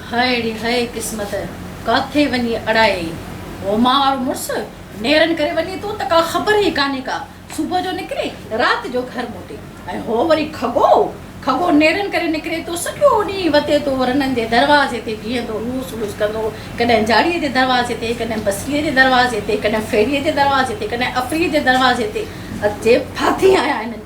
High ڙي هاء قسمت ڪاٿي وڃي اڙائي. هوما وارو مڙس نيرن ڪري وڃي ٿو ته ڪا خبر ئي ڪانهي ڪا صبح جو نڪري رات جو گهر موٽي ۽ هو وري کڳو کڳو نيرن ڪري نڪري ٿو سڄو ڏينهن وتي تو رنن جي دروازي تي بيهندو هوس هوس ڪندو ڪڏهن جاڙي جي دروازي تي ڪڏهن بصري جي دروازي تي ڪڏهن ڦيري جي دروازي تي ڪڏهن افريء جي دروازي تي اچي ڦاٿي آيا هنن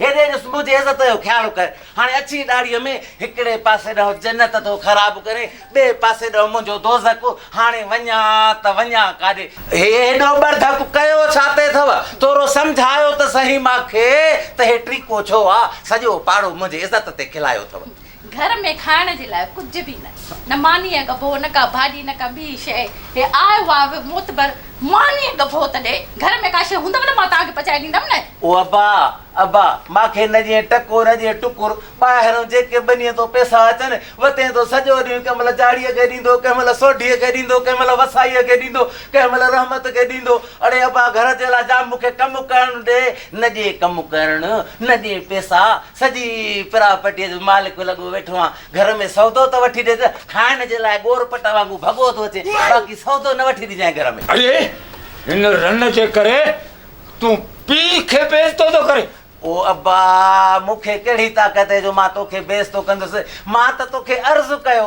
هيڏي جو سنڌو جي عزت جو خيال ڪر. هاڻي اڇي ڏاڙهيء ۾ هڪڙي پاسي ڏانهن جنت ٿو خراب ڪرين، ٻئي پاسي ڏانهن منهنجو دوزخ، هاڻي وڃان ته وڃان ڪاڏي؟ هي هيڏو ٻرڌڪ ڪيو ڇا تي اٿئو؟ ٿورو سمجهايو ته سهي مان کي ته هي ٽريڪو ڇو آ، سڄو پاڙو منهنجي عزت تي کلايو اٿئو. گهر ۾ کائڻ جي لاء ڪجهه به نه. نه مانيء ڳڀو، نه ڪا ڀاڄي، نه ڪا ٻي شيء. هي آء واء به معتبر مانيء ڳڀو ته ڏي. گهر ۾ ڪا شيء هوندو نه مان توهان کي پچائي ڏيندم نه. او ابا! ابا! مان کي نه ڄڻ ٽڪو نه ڄڻ ٽڪر. ٻاهرئون جيڪي ٻنيء تان پئسا اچن، وتين تون سڄو ڏينهن ڪنهن مهل جاڙيء کي ڏيندو، ڪنهن مهل سوڍيء کي ڏيندو، ڪنهن مهل وسائيء کي ڏيندو، ڪنهن مهل رحمت کي ڏيندو. اڙي ابا! گهر جي لاء جا مون کي ڪم ڪرڻ ڏي. نه ڏي ڪم ڪرڻ، نه ڏي پئسا، سڄي پراپرٽيء جو مالڪ لڳو ويٺو آهيان. گهر ۾ سودو ته وٺي ڏي ته کائڻ جي لاء ڳور پٽ وانگون ڀڳو ٿو اچي، باقي سودو نه وٺي ڏجانء گهر ۾. اڙي! هن رن جي ڪري تون پيء کي بي عزتو ٿو ڪرين. او ابا! مون کي ڪهڙي طاقت اهي جو مان توکي بي عزتو ڪندس. مان ته توکي عرض ڪيو.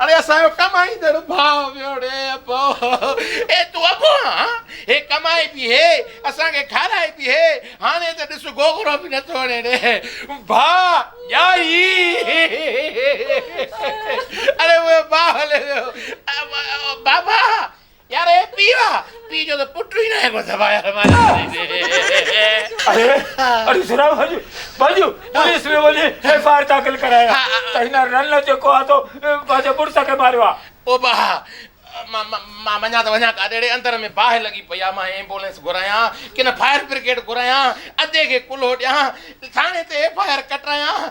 اڙي اسان جو ڪمائيندڙ ڀاء ويوڙي ابو اي تون ابو آن هي ڪمائي به هي اسان کي کارائي به هي هاڻي ته ڏس گوگڙو به نٿو هڻي ڙي ڀاء ڄائي اڙي اهو باهه هلي ويو بابا يار هي پيء آ، پيء جو ته پٽ ئي ناهي ڪو دٻايا رمايا ڪري ڏي. اڙي سھراب ڀڄ ڀڄ پوليس ۾ وڃي ايف آء آر داخل ڪرائي آ ته هن رنه جيڪو آ سو پنهنجي مڙس کي ماريو آ. او ڀاء مان مان وڃان ته وڃان ڪاڏي ڙي اندر ۾ باهه لڳي پئي آ مان ايمبولينس گهرايان ڪن فائر برگيڊ گهرايان ادي کي ڪلهو ڏيان ٿاڻي تي ايف آء آر ڪٽرايان.